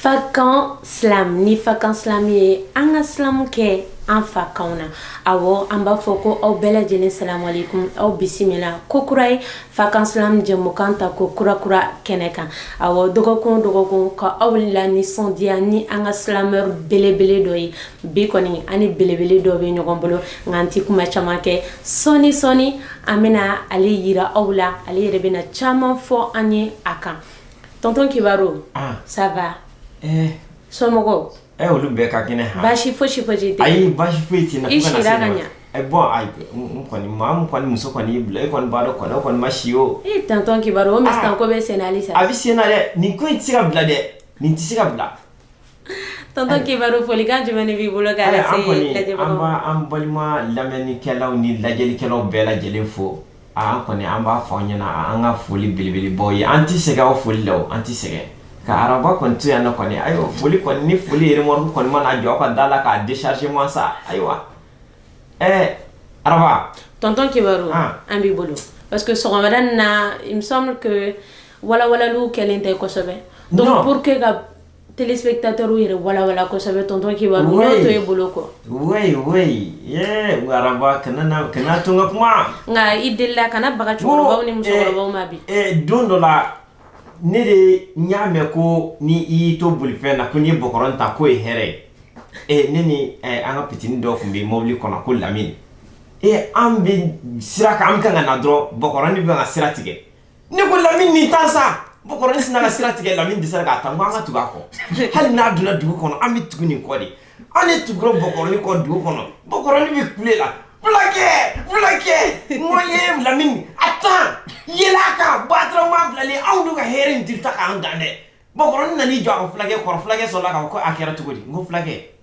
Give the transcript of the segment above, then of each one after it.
fakan silam ni fakan silam ye an ka silamu kɛ an fakanw na awɔ an b'a fɔ ko aw bɛɛ lajɛlen salamalekum aw bisimila ko kura ye fakan silam jɛmukan tako kurakura kɛnɛ kan awɔ dɔgɔkun dɔgɔkun ka aw lanisɔndiya ni an ka silamɛr belebele dɔ ye bi kɔni an ni belebele dɔ bɛ ɲɔgɔn bolo nka an tɛ kuma caman kɛ sɔɔni sɔɔni an bɛna ale yira aw la ale yɛrɛ bɛna caman fɔ an ye a kan tɔntɔn kibaru ah. ça va eh. somɔgɔw ɛ eh, olu bɛɛ ka kɛnɛ ha baasi fosi fosi tɛ ayi baasi foyi tɛ n na i sira ka ɲa ɛ bɔn ayi n kɔni maa min kɔni muso kɔni y'i bila e kɔni b'a dɔn kɔni o kɔni ma si o ee tɔntɔn kibaru o musontan ko bɛ sen na halisa a bɛ sen na dɛ nin ko in tɛ se ka bila dɛ nin tɛ se ka bila Tɔntɔn kibaru folikan jumɛn b'i bolo ka an balima lamɛnnikɛlaw ni lajɛlikɛlaw bɛɛ lajɛlen fo an kɔni an b'a fɔ aw ɲɛna an ka foli belebelebaw ye an tɛ sɛgɛn aw foli la an tɛ sɛgɛn ka waraba kɔni to yan kɔni ayiwa foli kɔni ni foli yɛrɛ remorque kɔni mana jɔ aw ka da la k'a décharger ma sa ayiwa ɛɛ waraba tɔntɔn kibaru an b'i bolo parce que sɔgɔma wɛrɛ na walawalali kɛlen tɛ kosɛbɛ donc pour que ka téléspectateurs yɛrɛ walawala kosɛbɛ tonton kibaru Oui. n'o to e bolo kɔ Wey wey yee waraba kana na kana to n ka kuma. nka i delila kana baga cɛkɔrɔbaw ni musokɔrɔbaw ma bi Ee don dɔ la ne de n y'a mɛn ko ni i y'i to bolifɛn na ko n'i ye bɔkɔrɔ tan k'o ye hɛrɛ ye. Ee ne ni eh, an ka pitinin dɔ tun bɛ mɔbili kɔnɔ ko lamini. Ee an bɛ sira kan an bɛ kan ka na dɔrɔn bɔkɔrɔnin bɛ ka sira tigɛ. ne ko lamini nin tan sa bɔkɔrɔnin sinna ka sira tigɛ lamini dɛsɛra k'a tan n ko an ka tugu a kɔ hali n'a donna dugu kɔnɔ an bɛ tugu nin kɔ de an ne tugura bɔkɔrɔnin kɔ dugu kɔnɔ bɔkɔrɔnin bɛ kule la fulakɛ fulakɛ n ko ye lamini a tan yɛlɛn a kan batara maa bilalen anw dun ka hɛrɛ in dirita k'an dan dɛ bɔkɔrɔnin nan'i jɔ a ka fulakɛ kɔrɔ fulakɛ sɔrɔla k'a fɔ ko a kɛra cogo di n ko fulakɛ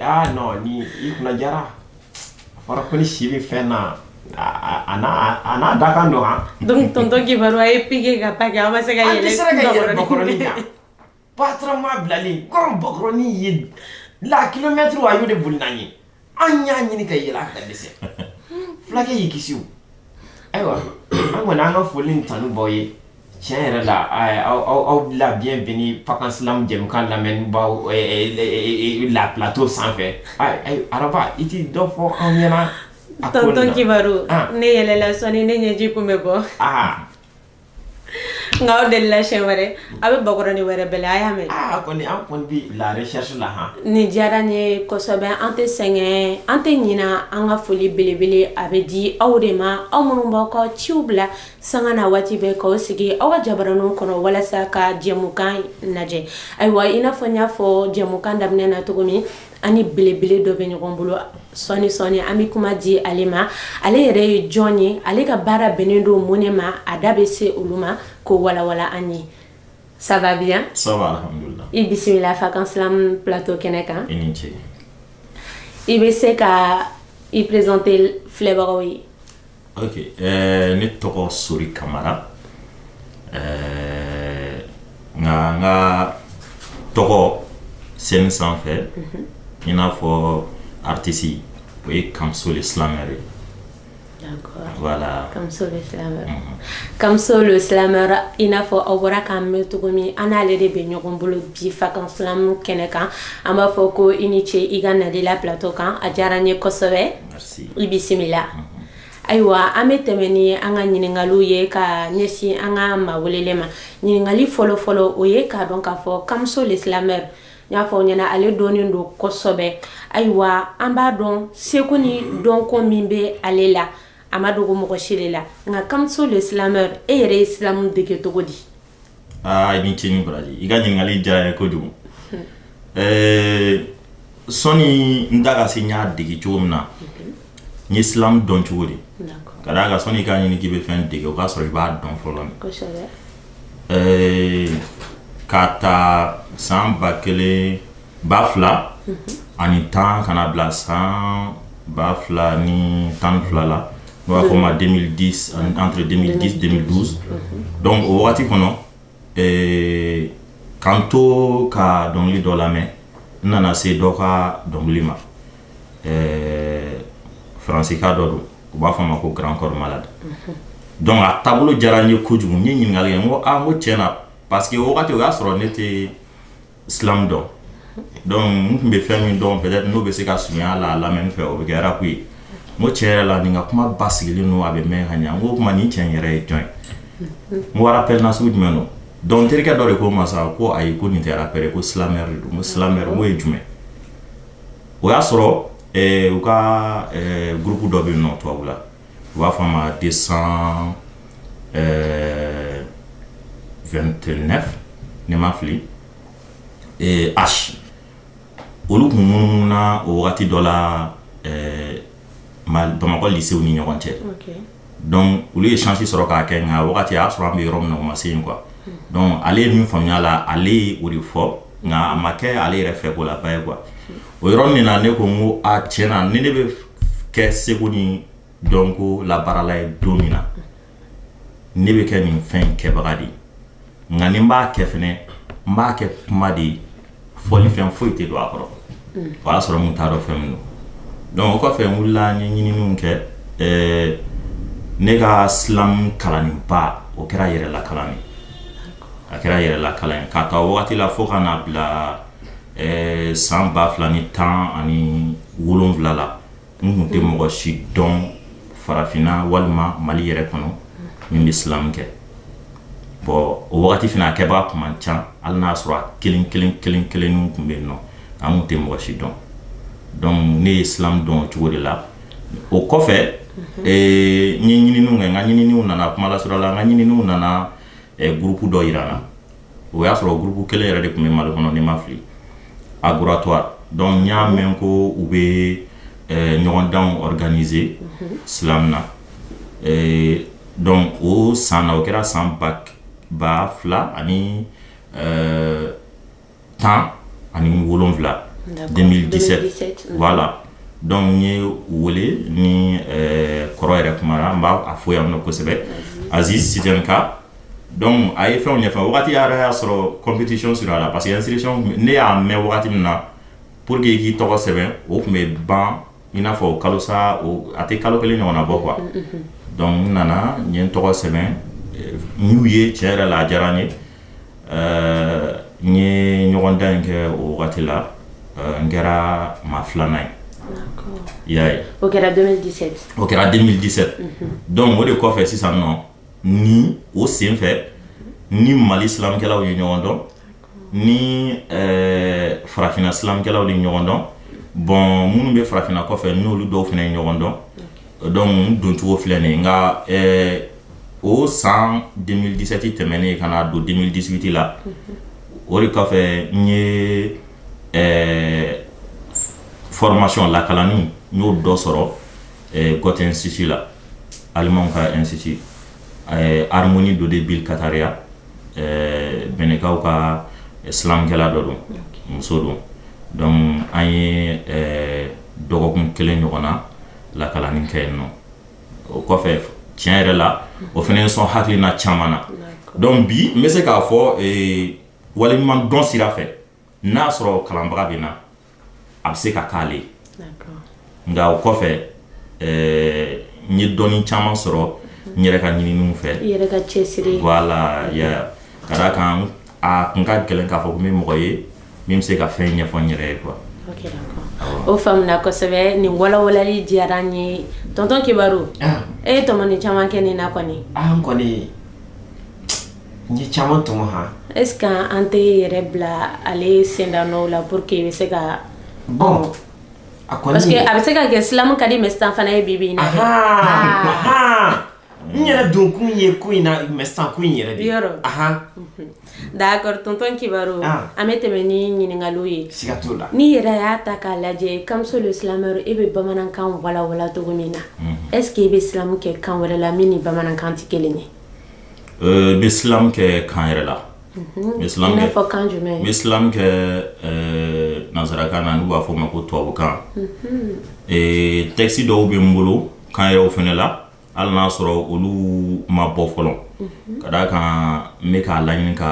Ah non ni i kunna diyara a fɔra ko ni si bɛ fɛn na a a- a n'a a n'a da kan don han donc tonton kibaru a ye pike ka pake aw ma se ka an yɛrɛ dɛsɛra ka yɛlɛn bakɔrɔni kan batara maa bilalen kɔrɔ bakɔrɔni ye la kilomɛtiri a y'o de boli n'an ye an y'a ɲini ka yɛlɛn a kan ka dɛsɛ fulakɛ y'i kisi o ayiwa an kɔni an ka foli ni tanubaw ye tiɲɛ yɛrɛ la aw bɛ la bienvenue fakan silamu jɛmukan lamɛnnibaw la plateau sanfɛ waraba i tɛ dɔ fɔ an ɲɛna a ko nin na tonton kibaru ne yɛlɛla sɔɔni ne ɲɛji kun bɛ bɔ nka aw delila siɲɛ wɛrɛ aw bɛ bakɔrɔni wɛrɛ bɛlɛn aw y'a mɛn a kɔni an kɔni bi la recherche la han nin diyara n ye kosɛbɛ an tɛ sɛgɛn an tɛ ɲina an ka foli belebele a bɛ di aw de ma aw minnu b'aw ka ciw bila sanga ni waati bɛɛ k'aw sigi aw ka jabaraniw kɔnɔ walasa ka jɛmukan lajɛ ayiwa i n'a fɔ n y'a fɔ jɛmukan daminɛ na cogo min an ni belebele dɔ bɛ ɲɔgɔn bolo sɔni sɔni an bɛ kuma di ale ma ale yɛrɛ ye jɔn ye ale ka baara bɛnnen don mun ne ma a da bɛ se olu ma k'o walawala an ye ça va bien ça va alhamdulillah i bisimila fakan slam plateau kɛnɛ kan i ni ce i bɛ se ka i présenter filɛbagaw ye ok ɛɛ ne tɔgɔ sori kamara ɛɛ nka n ka tɔgɔ scène sanfɛ i n'a fɔ artiste o ye Kamso le slameur ye D'accord. voilà Kamso le slameur. Kamso le slameur i n'a fɔ aw bɔra k'a mɛn cogo min an n'ale de bɛ ɲɔgɔn bolo bi fakan silamu kɛnɛ kan an b'a fɔ ko i ni ce i ka nali la plateau kan a diyara n ye kosɛbɛ. Merci. i bisimila ayiwa an bɛ tɛmɛ ni an ka ɲininkaliw ye ka ɲɛsin an ka maa welelen ma ɲininkali fɔlɔfɔlɔ o ye k'a dɔn k'a fɔ Kamso le slameur n y'a fɔ ɲɛ na ale dɔnnen don kosɛbɛ ayiwa an b'a dɔn seko ni dɔnko min bɛ ale la a ma dogo mɔgɔ si de la nka Kamso le slameur e yɛrɛ ye silamu dege cogo di aa i ni ce ni baraji i ka ɲininkali diyara n ye kojugu ɛɛ sani n da ka se n y'a dege cogo min na n ye silamu dɔn cogo di D'accord. ka d'a kan sani i k'a ɲini k'i bɛ fɛn dege o k'a sɔrɔ i b'a dɔn fɔlɔ dɛ Kosɛbɛ. ɛɛ k'a ta san ba kelen ba fila ani tan ka na bila san ba fila ni tan ni fila la n'u b'a fɔ ma deux mille dix ani entre deux mille dix deux mille douze donc o waati kɔnɔ ka n to ka dɔnkili dɔ lamɛn n nana se dɔ ka dɔnkili ma ɛɛ faransika dɔ don u b'a fɔ a ma ko Grand Corps Malade donc a taabolo diyara n ye kojugu n ye ɲininkali kɛ ko ko cɛ nin parce que o wagati o y'a sɔrɔ ne tɛ silamu dɔn donc n tun bɛ fɛn min dɔn peut-être n'o bɛ se ka surunya a la a lamɛnni fɛ o bɛ kɛ rap ye n ko tiɲɛ yɛrɛ la nin ka kuma basigilen don a bɛ mɛn ka ɲɛ n ko o tuma nin cɛ in yɛrɛ ye jɔn ye n ko rappeur nasugu jumɛn don donc n terikɛ dɔ de ko n ma sa ko ayi ko nin tɛ rappeur ye ko slameur de don n ko slameur n ko o ye jumɛn o y'a sɔrɔ ɛɛ u ka ɛɛ groupe dɔ bɛ yen nɔ tubabula u b'a fɔ a ma deux cent ɛɛ 29 ni n ma fili ɛɛ H olu tun munumununa o wagati dɔ la ɛɛ bamakɔ lycéew ni ɲɔgɔn cɛ donc olu ye sansi sɔrɔ k'a kɛ nka wagati y'a sɔrɔ an bɛ yɔrɔ min na o ma se yen quoi donc ale ye min faamuya la ale o de fɔ nka a ma kɛ ale yɛrɛ fɛ ko la ba ye quoi o yɔrɔnin na ne ko n ko a tiɲɛ na ni ne bɛ kɛ seko ni dɔnko labaarala ye don min na ne bɛ kɛ nin fɛn kɛbaga de ye nka ni n b'a kɛ fana n b'a kɛ kuma de ye fɔlifɛn foyi tɛ don a kɔrɔ o y'a sɔrɔ n t'a dɔn fɛn min don donc o kɔfɛ n wulila n ye ɲininiw kɛ ɛɛ ne ka slam kalan ba o kɛra yɛrɛla kalan a kɛra yɛrɛla kalan ye k'a ta waati la fo ka n'a bila ɛɛ san ba fila ni tan ani wolonwula la n tun tɛ mɔgɔ si dɔn farafinna walima mali yɛrɛ kɔnɔ min bɛ silamu kɛ bon o wagati fana a kɛbaa tun man ca hali n'a sɔrɔ a kelen kelen kelen kelenninw tun bɛ yen nɔ an tun tɛ mɔgɔ si dɔn donc ne ye silamu dɔn o cogo de la o kɔfɛ n ye ɲininiw kɛ n ka ɲininiw nana kuma lasurunya la n ka ɲininiw nana gurupu dɔ jira n na o y'a sɔrɔ gurupu kelen yɛrɛ de tun bɛ mali kɔnɔ ni n ma fili Agoratoire donc n y'a mɛn ko u bɛ eh, ɲɔgɔndan organiser mhm. slam na eh, donc o san na o kɛra san ba fila ani eh, tan ani wolonwula 2017 la donc n ye wele ni kɔrɔ yɛrɛ kuma na n b'a fo yan nɔ kosɛbɛ Aziz Siten'k donc a ye fɛnw ɲɛfɔ wagati yɛrɛ y'a sɔrɔ compétition surunyara parce que inscription ne y'a mɛn wagati min na pour que i k'i tɔgɔ sɛbɛn o tun bɛ ban i n'a fɔ kalo sa a tɛ kalo kelen ɲɔgɔnna bɔ quoi donc n nana n ye n tɔgɔ sɛbɛn n y'u ye tiɲɛ yɛrɛ la a diyara n ye n ye ɲɔgɔndan in kɛ o wagati la n kɛra maa filanan ye i y'a ye o kɛra 2017 o kɛra 2017 donc o de kɔfɛ sisan nɔ ni o senfɛ ni mali silamkɛlaw ye ɲɔgɔn dɔn ni eh, farafina silamkɛlaw de ɲɔgɔn dɔn bon minnu bɛ farafina kɔfɛ n'olu dɔw fana ye ɲɔgɔn dɔn donc doncogo filɛ nin nka eh, o san 2017 tɛmɛnen ka na don 2018 la o de kɔfɛ n ye eh, formation lakalanni n y'o dɔ sɔrɔ eh, Goethe Institut la Alimanw ka institut eh, Harmonie Dodé Byll Catarya eh, Benɛnkaw ka silamkɛla dɔ don muso don donc an ye eh, dɔgɔkun kelen ɲɔgɔn na lakalanni kɛ yen nɔ o kɔfɛ tiɲɛ yɛrɛ la o fana ye n sɔn hakilina caman na donc bi n bɛ se k'a fɔ eh, waleɲumandɔn sira fɛ n'a y'a sɔrɔ kalanbaga bɛ n na a bɛ se ka k'ale ye nka o kɔfɛ eh, n ye dɔnni caman sɔrɔ n yɛrɛ ka ɲininiw fɛ i yɛrɛ ka cɛsiri voilà ya ka d'a kan a kun ka gɛlɛn k'a fɔ ko n bɛ mɔgɔ ye min bɛ se ka fɛn ɲɛfɔ n yɛrɛ ye quoi Ok, d'accord. o faamuna kosɛbɛ nin walawalali diyara n ye tonton kibaru Ah. e ye tɔmɔni caman kɛ nin na kɔni ah n kɔni n ye caman tɔmɔ han est ce que an tɛ yɛrɛ bila ale sendanɔw la pour que i bɛ se ka bon a kɔni parce que a bɛ se ka kɛ silamu ka di mais sisan fana ye bibi in na n yɛrɛ don kun ye ko in na mais sisan ko in yɛrɛ de yɔrɔ d'accord tonton kibaru an bɛ tɛmɛ ni ɲininkaliw ye siga t'o la n'i yɛrɛ y'a ta k'a lajɛ kamso le slameur e bɛ bamanankan walawala cogo min na est ce que e bɛ silamu kɛ kan wɛrɛ la min ni bamanankan tɛ kelen ye Euh, n bɛ silam kɛ kan wɛrɛ la n bɛ silam kɛ fɔ kan jumɛn n bɛ silam kɛ euh, nansarakan na n'u b'a fɔ ma ko tubabukan euh, tɛkisi dɔw bɛ n bolo kan wɛrɛw fana la hali n'a sɔrɔ olu ma bɔ fɔlɔ ka d'a kan n bɛ k'a laɲini ka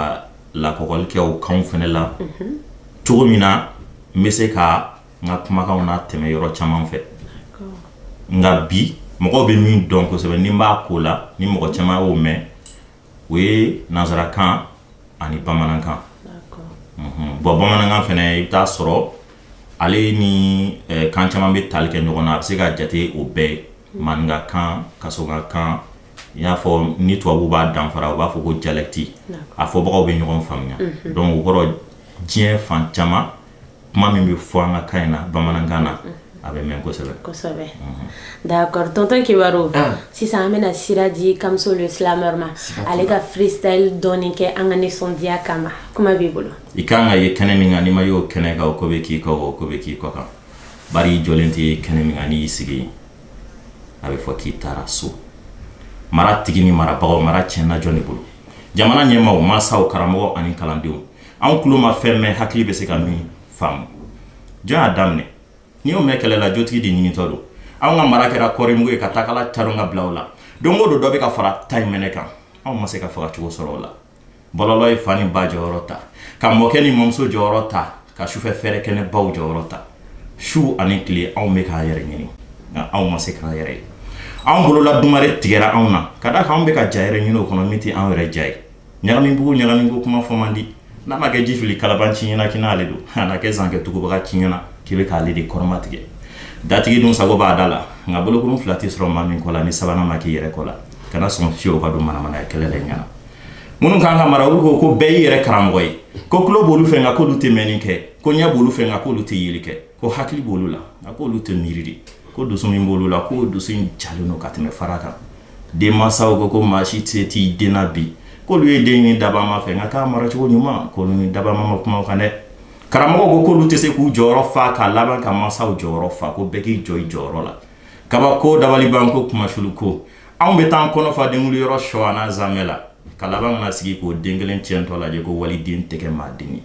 lakɔgɔli kɛ o kanw fana la cogo min na n bɛ se ka n ka kumakanw latɛmɛ yɔrɔ caman fɛ nka bi mɔgɔw bɛ min dɔn kosɛbɛ ni n b'a ko la ni mɔgɔ caman y'o mɛn o ye nansarakan ani bamanankan bɔn bamanankan fana i bɛ t'a sɔrɔ ale ni kan caman bɛ taali kɛ ɲɔgɔn na a bɛ se ka jate o bɛɛ maninkakan kasɔnkakan i y'a fɔ ni tubabu b'a danfara u b'a fɔ ko dialecte a fɔbagaw bɛ ɲɔgɔn faamuya donc o kɔrɔ diɲɛ fan caman kuma min bɛ fɔ an ka kan in na bamanankan na a bɛ mɛn kosɛbɛ kosɛbɛ d'accord tonton kibaru ah. sisan an bɛna sira di kamso le slameur ma ale ka freestyle dɔɔni kɛ an ka nisɔndiya kama kuma b'i bolo i kan ka ye kɛnɛ min kan n'i ma y'o kɛnɛ kan o ko bɛ k'i kɔ o ko bɛ k'i kɔ kan bari i jɔlen tɛ ye kɛnɛ min kan n'i y'i sigi yen a bɛ fɔ k'i taara so mara tigi ni marabagaw mara tiɲɛna jɔn de bolo jamana ɲɛmaaw mansaw karamɔgɔ ani kalandenw anw tulo ma fɛn mɛn hakili bɛ se ka min faamu jɔn y'a daminɛ n'i y'o mɛn kɛlɛ la jotigi de ɲinitɔ don anw ka mara kɛra kɔrimugu ye ka takala caron k'a bila o la don o don dɔ bɛ ka fara ta mɛnɛ kan anw ma se k'a faga cogo sɔrɔ o la bɔlɔlɔ ye fa ni ba jɔyɔrɔ ta ka mɔkɛ ni mamuso jɔyɔrɔ ta ka sufɛ fɛrɛ kɛnɛbaw jɔyɔrɔ ta su ani tile anw bɛ k'an yɛrɛ ɲini nka anw ma se k'an yɛrɛ ye anw bolola dumare tigɛra anw na ka d'a kan anw bɛ ka ja wɛrɛ ɲini o kɔnɔ min tɛ anw yɛrɛ ja ye ɲagamibugu ɲagamibugu kuma fɔ man di n'a ma kɛ ji fili kalabanci ɲɛna k'i n'ale don a na kɛ zan kɛ tugubaganci ɲɛna k'i bɛ k'ale de kɔrɔmatigɛ datigi dun sago b'a da la nka bolokurun fila tɛ sɔrɔ maa min kɔ la ni sabanan ma k'i yɛrɛ kɔ la kana sɔn fiyewu ka don manamanaya kɛlɛ la i ɲɛna minnu kan ka mara olu ko ko bɛɛ y'i yɛrɛ karamɔgɔ ye ko tulo b'olu fɛ nka k'olu tɛ mɛnni kɛ ko ɲɛ b'olu fɛ nka k'olu tɛ yeli kɛ ko hakili b'olu la nka k'olu tɛ miiri dɛ ko dusu min b'olu la k'o dusu in jalen don ka tɛmɛ fara kan denmansaw ko ko maa si tɛ s'i den na bi k'olu ye den ɲini dabama fɛ nka k'a mara cogo ɲuman k'olu ni dabama ma kuma kan dɛ karamɔgɔ ko k'olu tɛ se k'u jɔyɔrɔ fa k'a laban ka mansaw jɔyɔrɔ fa ko bɛɛ k'i jɔ i jɔyɔrɔ la kabako dabalibanko kumasulu ko anw bɛ taa kɔnɔ fa denkunli yɔrɔ sogo ani zamɛ la ka laban ka na sigi k'o den kelen tiɲɛtɔ lajɛ ko waliden tɛ kɛ maa den ye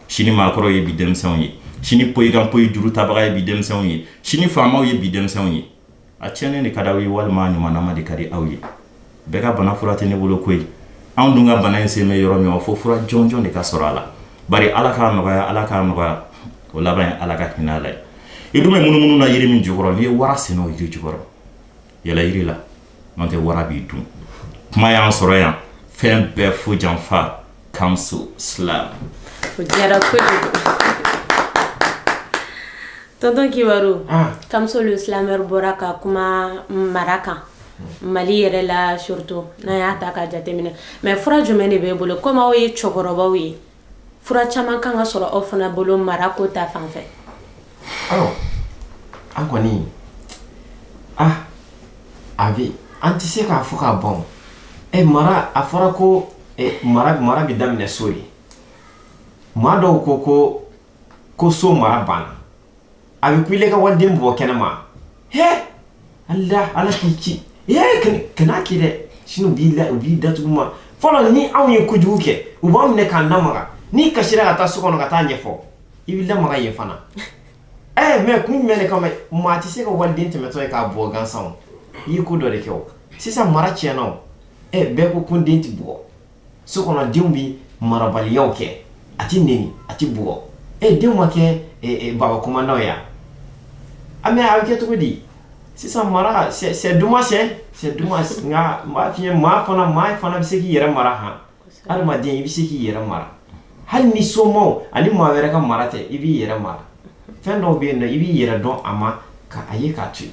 sini maakɔrɔw ye bi denmisɛnw ye sini poyikan poyi juru tabaga ye bi denmisɛnw ye sini faamaw ye bi denmisɛnw ye a tiɲɛnen de ka di aw ye walima a ɲumanma de ka di aw ye bɛɛ ka bana fura tɛ ne bolo koyi anw dun ka bana in sen bɛ yɔrɔ min fo fura jɔnjɔn de ka sɔrɔ a la bari ala k'a nɔgɔya ala k'a nɔgɔya o laban ye ala ka hinɛ a la i dun bɛ munumunu na yiri min jukɔrɔ n'i ye wara sen y'o yiri jukɔrɔ yɛlɛ yiri la n'o tɛ wara b'i dun kuma y'an sɔrɔ yan fɛn bɛɛ fo janfa comes to slam kugera kuri tonton kibaru ah. kamsolu slameur bɔra ka kuma mara kan mali yɛrɛ la surtout n'a y'a ta k'a jateminɛ mɛ fura jumɛn de b'e bolo komi aw ye cɛkɔrɔbaw ye fura caman kan ka sɔrɔ aw fana bolo mara ko ta fan fɛ aw an kɔni ah a bɛ an tɛ se k'a fɔ ka ban ɛ mara a fɔra ko e, mara mara bɛ daminɛ so de maa dɔw ko ko ko so mara banna a bɛ kule ka waliden bugɔ kɛnɛma he ala ala k'i kisi ee kan'a kɛ dɛ sini u b'i la u b'i datugu mɛ fɔlɔ ni anw ye kojugu kɛ u b'an minɛ k'an lamaga n'i kasira ka taa so kɔnɔ ka t'a ɲɛfɔ i bɛ lamaga yen fana ɛɛ mɛ kun jumɛn de kama maa tɛ se ka waliden tɛmɛtɔ ye k'a bugɔ gansan o i ye ko dɔ de kɛ o sisan mara tiɲɛna o ɛ bɛɛ ko ko den tɛ bugɔ so kɔnɔ denw bɛ marabaliyaw kɛ a tɛ neni a tɛ bugɔ ɛ denw ma kɛ baba komandanw ye a mɛ a bɛ kɛ cogo di sisan mara c'est dommage c'est dommage nka n b'a f'i ye maa fana maa fana bɛ se k'i yɛrɛ mara han adamaden i bɛ se k'i yɛrɛ mara hali ni somaw ani maa wɛrɛ ka mara tɛ i b'i yɛrɛ mara fɛn dɔw bɛ yen nɔ i b'i yɛrɛ dɔn a man kan a ye k'a to yen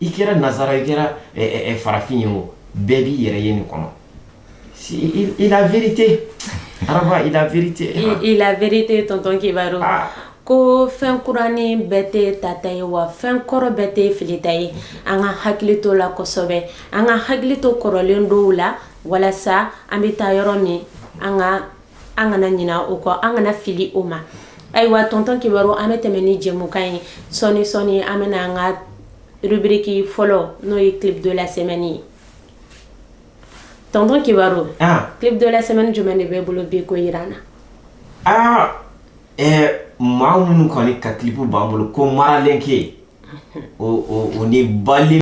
i kɛra nazara i kɛra eh, eh, eh, farafin ye o bɛɛ b'i yɛrɛ ye nin kɔnɔ il a vérité araba il a vérité il a vérité tonton kibaru ah. ko fɛn kurani bɛɛ tɛ tata ye wa fɛn kɔrɔ bɛɛ tɛ filita ye an ka hakili t'o la kosɛbɛ an ka hakili to kɔrɔlen dɔw la walasa an bɛ taa yɔrɔ min an ka an kana ɲina o kɔ an kana fili o ma ayiwa tonton kibaru an bɛ tɛmɛ ni jɛmukan ye sɔni sɔni an bɛna an ka rubriki fɔlɔ n'o ye clip de la semaine ye tonton kibaru ah. clip de la semaine jumɛn de b'i bolo bi k'o jira an na ah, eh, maa minnu kɔni ka clip b'an bolo ko maralen ke o ni bali